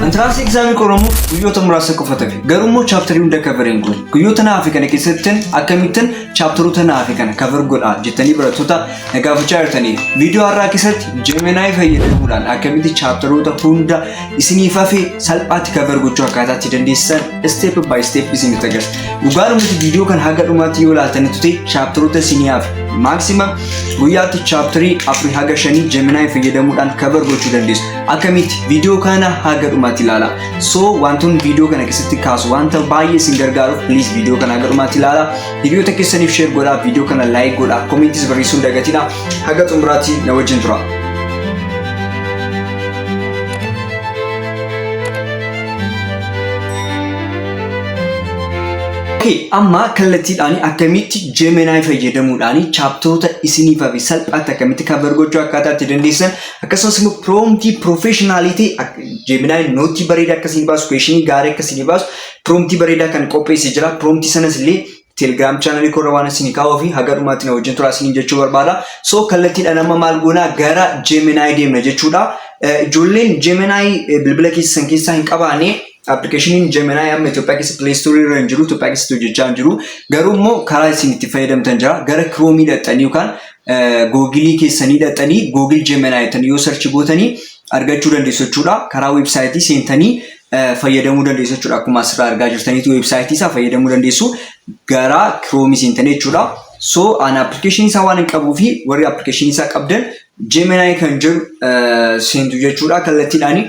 Entrance exam qoramuuf guyyoota muraasa qofa tafe. Garuu immoo chapterii hunda cover hin goone. Guyyoota na hafe kana keessatti akkamittan chapteroota na hafe kana cover godha jettanii barattoota na gaafachaa jirtanii. Viidiyoo har'aa keessatti Gemini fayyadamuudhaan akkamitti chapteroota hunda isiniif hafe salphaatti cover gochuu akkaataa itti dandeessisan step by step isinitti agarsiisa. Dhugaadhumatti viidiyoo kan haga dhumaatti yoo ilaaltanitti ta'e chapteroota isinii hafe. Maximum guyyaatti chapterii afurii haga shanii Gemini fayyadamuudhaan cover gochuu dandeessu. akkamitti viidiyoo kana haga dhumaatti ilaala so wantoonni viidiyoo kana keessatti kaasu wanta baay'ee isin gargaaruuf please viidiyoo kana haga dhumaatti ilaala hiriyoota keessaniif sheer godhaa viidiyoo kana laayik godhaa komentis barreessuun dagatina haga xumuraatti na wajjin tura. Okay, amma kallattiidhaan akkamitti Gemini fayyadamuudhaan chaaptoota isiniif hafe salphaatti akkamitti cover gochuu akkaataa itti dandeessan Akkasumas immoo piroomtii piroofeeshinaalii ta'e Jeeminaay nootii bareedaa akka isin baasu kweeshinii gaarii akka isin baasu piroomtii bareedaa kan qopheesse jira. Piroomtii sanas illee telegiraam chaanalii koorra waan isin kaa'uu fi haga dhumaatti na wajjin turaa isiniin jechuu barbaada. So kallattiidhaan amma maal goonaa gara Jeeminaay deemna jechuudha. Ijoolleen Jeeminaay bilbila keessan keessaa hin qabaane appilikeeshiniin Jeeminaay amma Itoophiyaa keessa pileestoorii irra hin jiru Itoophiyaa keessatti hojjechaa hin jiru. Garuu immoo karaa isin itti fayyadamtan jira. Gara kiroomiidha xanii yookaan googilii keessanii dhaxanii googil jemenaa jettanii yoo sarchi gootanii argachuu dandeessu jechuudha. Karaa weebsaayitii seentanii fayyadamuu dandeessu jechuudha. Akkuma asirraa argaa jirtaniitu weebsaayitii isaa fayyadamuu dandeessu gara kiroomi seentanii jechuudha. So an application isaa waan hin qabuu fi warri application isaa qabdan Gemini kan jedhu seentu jechuudha kallattiidhaani.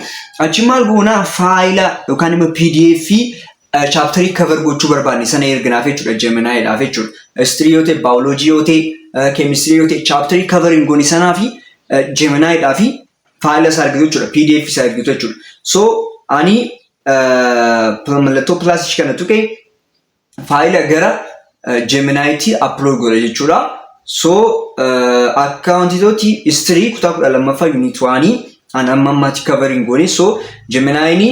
Achi maal goona faayila yookaan immoo PDF Chaapterii cover gochuu barbaadne sana erginaaf jechuudha Gemini dhaaf jechuudha. History yoo ta'e, biology yoo ta'e, chemistry yoo ta'e chaapterii cover hin goone sanaa fi Gemini dhaa fi faayila isaa argitu jechuudha. PDF isaa argitu jechuudha. So ani mallattoo plus kana tuqe faayila gara Jeminaayitii upload godha jechuudha. So akka wanti tooti history kutaa kudha lammaffaa unit waanii an amma ammaatti covering goone so jeminaayini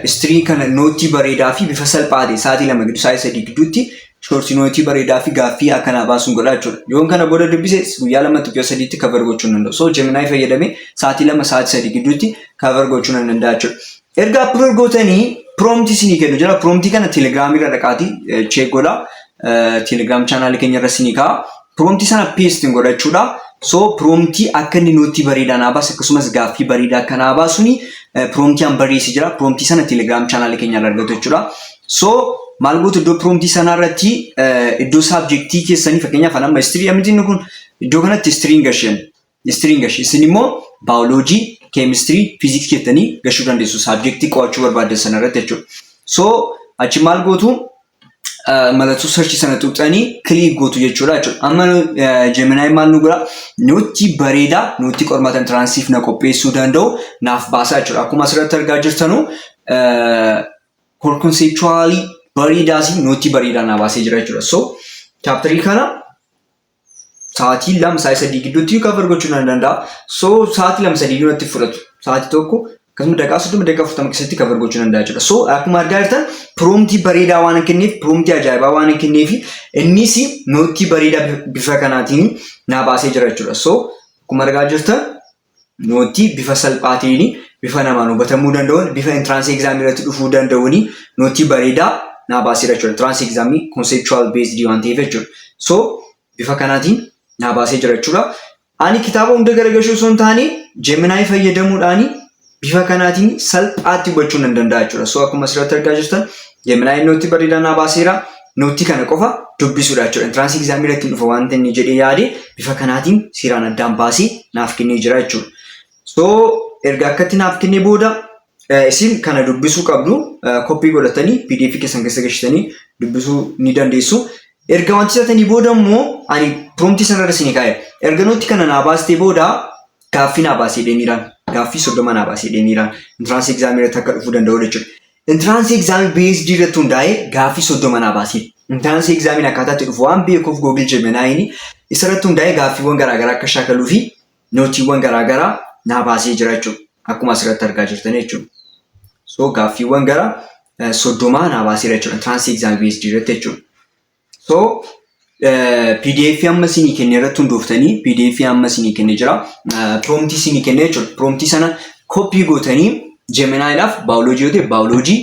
history kana nootii bareedaa fi bifa salphaa ta'e sa'aatii lama gidduu sa'aatii sadii gidduutti shoortii nootii bareedaa fi gaaffii akkanaa baasuun godha jechuudha. Yoon kana booda dubbise guyyaa lamatti guyyaa sadiitti cover gochuu nan danda'u. So jeminaay fayyadamee sa'aatii lama sa'aatii sadii gidduutti cover gochuu nan danda'a jechuudha. Erga appear gootanii prompt isinii kennu jira. Prompt kana telegram irra dhaqaati check godha. Telegram channel keenya irra isinii ka'a. Prompt sana paste godha jechuudha. So prompt akka inni nootii bareedaa naa baasu akkasumas gaaffii bareedaa akka naa baasuni prompt an barreessi jira. Prompt sana telegram channel keenya irra argatu jechuudha. So maal gootu iddoo prompt sanaa irratti iddoo subjectii keessanii fakkeenyaaf an amma history miti inni kun iddoo kanatti history hin gashan. Ministriin gashi. Isin immoo baayoloojii, keemistirii, fiiziksii jettanii gashuu dandeessu. Saabjektii qo'achuu barbaaddan sana irratti jechuudha. So achi maal gootu eh, mallattoo sarchii sana tuqxanii kiliik gootu jechuudha jechuudha. Amma eh, Gemini maal nu godha? Nutti bareeda, nutti qormaata intiraansiif na qopheessuu danda'u naaf baasaa jechuudha. Akkuma asirratti argaa jirtanu eh, core conceptually bareedaas nutti bareedaa naa baasee jira jechuudha. So chaaptarii kana sa'aatii lama sa'aatii sadii gidduutti cover gochuu nan danda'a. So sa'aatii lama sadii iyyuu natti fudhatu. Sa'aatii tokko akkasuma daqiiqaa soddoma daqiiqaa afurtama keessatti cover gochuu nan danda'a jechuudha. So akkuma argaa jirtan proomtii bareedaa waan hin kenneef proomtii ajaa'ibaa waan hin kenneef innis noottii bareedaa bifa kanaatiin naa baasee jira jechuudha. So akkuma argaa jirtan Noottii bifa salphaa ta'een, bifa namaan hubatamuu danda'uun, bifa entrance exam irratti dhufuu danda'uun noottii bareedaa naa baaseera jechuudha. Entrance exam conceptual based waan ta'eef jechuudha. So bifa kanaatiin naa baasee jira jechuudha. Ani kitaaba hunda garagalchuu osoo hin taane Gemini fayyadamuudhaan bifa kanaatiin salphaatti hubachuu nan danda'a jechuudha. So akkuma asirratti argaa jirtan Gemini noottii bareedaa naa baaseera. Noottii kana qofa dubbisuudha jechuudha. Entiraansii egzaamii irratti hin dhufa wanta inni jedhee yaade bifa kanaatiin seeraan addaan baasee naaf kennee jira jechuudha. So erga akkatti naaf kennee booda isin kana dubbisuu qabdu koppii godhatanii pdf keessan keessa gashitanii dubbisuu ni dandeessu. Erga wanti isaatanii booda immoo ani proomtii sanarra isin kaa'e. Erga nootti kana naa baastee booda gaaffii naa baasee deemiiraan. Gaaffii soddoma naa baasee deemiiraan. Entiraansii egzaamii irratti akka dhufuu danda'u jechuudha. Intiraansii egzaamii BSD irratti hundaa'ee gaaffii soddoma naa baasiif. Intiraansii egzaamiin akkaataa itti dhufu waan beekuuf Google Gemini isarratti hundaa'ee gaaffiiwwan garaagaraa akka shaakaluu fi nootiiwwan garaagaraa naa baasee jira jechuudha. Akkuma asirratti argaa jirtan jechuudha. So gaaffiiwwan gara soddomaa naa baaseera jechuudha. Intiraansii egzaamii BSD irratti jechuudha. So pdf amma isinii kenne irratti hundooftanii pdf amma isinii kenne jira. Proomtii isinii kenne jechuudha. Proomtii sana koppii gootanii jeminaayidhaaf baayoloojii yoo ta'e baayoloojii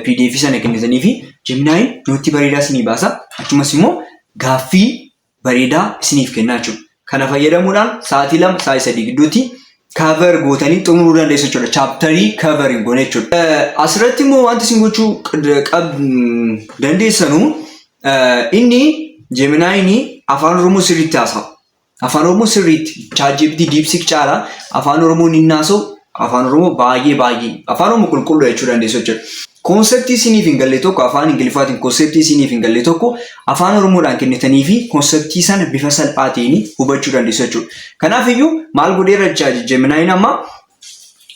pdf sana kennitanii fi jeminaayin nootii bareedaa isinii baasa. Achumas immoo gaaffii bareedaa isiniif kennaa jechuudha. Kana fayyadamuudhaan sa'aatii lama sa'aatii sadii gidduutti cover gootanii xumuruu dandeessu jechuudha. Chaaptarii cover hin goone jechuudha. Asirratti immoo wanti isin gochuu qab dandeessanu inni Jeeminaayini afaan Oromoo sirriitti haasa'a. Afaan Oromoo sirriitti chaatjiipitii diipsiik caala afaan Oromoo ni haasa'u Afaan Oromoo baay'ee baay'ee afaan Oromoo qulqulluu jechuu dandeessu jechuudha. Koonseptii isiniif hin galle tokko afaan Ingiliffaatiin koonseptii isiniif hin galle tokko afaan Oromoodhaan kennitanii fi koonseptii sana bifa salphaa ta'een hubachuu dandeessu jechuudha. Kanaaf iyyuu maal godheera jechaa Jeminaayiin amma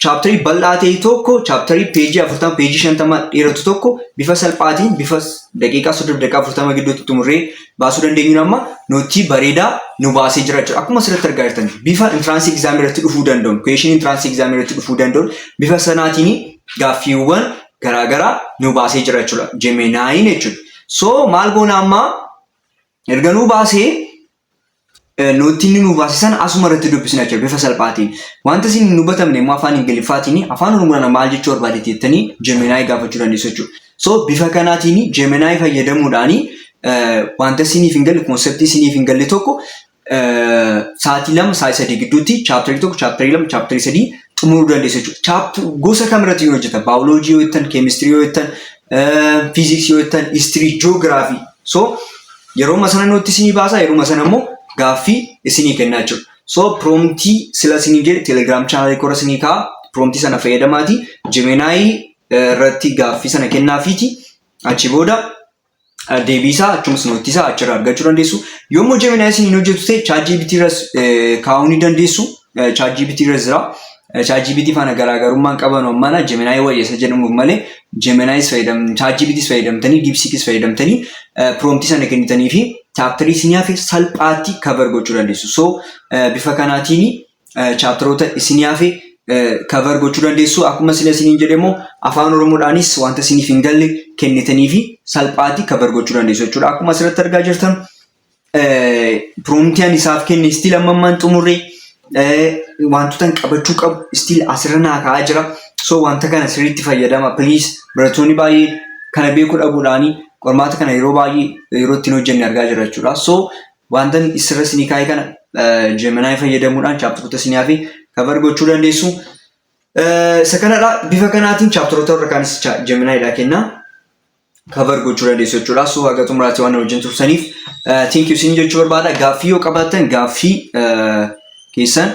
chaaptarii bal'aa ta'e tokko chaaptarii peejii 40 peejii 50 dheeratu tokko bifa salphaatiin bifa daqiiqaa 30 daqiiqaa 40 gidduutti xumurree baasuu dandeenyuun amma nootii bareedaa nu baasee jira jechuudha. Akkuma asirratti argaa jirtan bifa intiraansii egzaamii irratti dhufuu danda'u, kuweeshinii intiraansii egzaamii irratti dhufuu danda'u bifa sanaatiin gaaffiiwwan garaagaraa nu baasee jira jechuudha. Jemenaayiin jechuudha. So maal goona amma erga nu baasee Noottii inni nuu baase sana asuma irratti dubbisna jechuudha bifa salphaatiin. Wanta isin hin hubatamne immoo afaan Ingiliffaatiin afaan Oromoodhaan maal jechuu barbaade jettanii Gemini gaafachuu dandeessu jechuudha. So bifa kanaatiin Gemini fayyadamuudhaan wanta isiniif hin galle konseptii isiniif hin galle tokko sa'aatii lama sa'aatii sadii gidduutti chaaptarii tokko chaaptarii lama chaaptarii sadii xumuruu dandeessu jechuudha. Chaaptu gosa kamirratti yoo hojjetan baayoloojii yoo jettan keemistirii yoo jettan fiiziksii yoo jettan histirii joogiraafii so Yeruma sana nutti isinii baasa yeruma sana immoo gaaffii isinii kennaa jechuudha. So promptii sila isinii jedhe telegram channel kora isinii kaa promptii sana fayyadamaati Gemini irratti gaaffii sana kennaafiiti achi booda deebii isaa achumas nootii isaa achirraa argachuu dandeessu. Yommuu Gemini isin hin hojjetu ta'e ChatGPT irras kaa'uu ni dandeessu. ChatGPT irra jira. ChatGPT faana garaagarummaan qabanu ammana Gemini wayya isa jedhamuuf malee Gemini fayyadam ChatGPT fayyadamtanii DeepSeek fayyadamtanii prompt sana kennitanii fi chapter isin hafe salphaatti cover gochuu dandeessu. So bifa kanaatiin chapteroota isin hafe cover gochuu dandeessu. Akkuma sila isiniin jedhe immoo afaan Oromoodhaanis wanta isiniif hin galle kennitanii fi salphaatti cover gochuu dandeessu jechuudha. Akkuma asirratti argaa jirtan piroomtii ani isaaf kenne istiil amma ammaan xumurre wantoota hin qabachuu qabu istiil asirra naa ka'aa jira. So wanta kana sirriitti fayyadama please barattoonni baay'een kana beekuu dhabuudhaan qormaata kana yeroo baay'ee yeroo ittiin hojjenne argaa jira jechuudha. So wanta sirra isinii kaa'e kana Gemini fayyadamuudhaan chaaptaroota isinii hafe kavar gochuu dandeessu. Isa kanadha bifa kanaatiin chaaptaroota warra kaanis Gemini dha kenna. cover gochuu dandeessu jechuudha. So haga xumuraatti waan wajjin tursaniif thank you sin jechuu barbaada. Gaaffii yoo qabaattan gaaffii keessan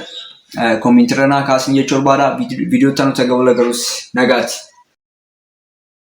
komintirra naa kaasin jechuu barbaada. Viidiyoo itti aanutti garuu nagaatti.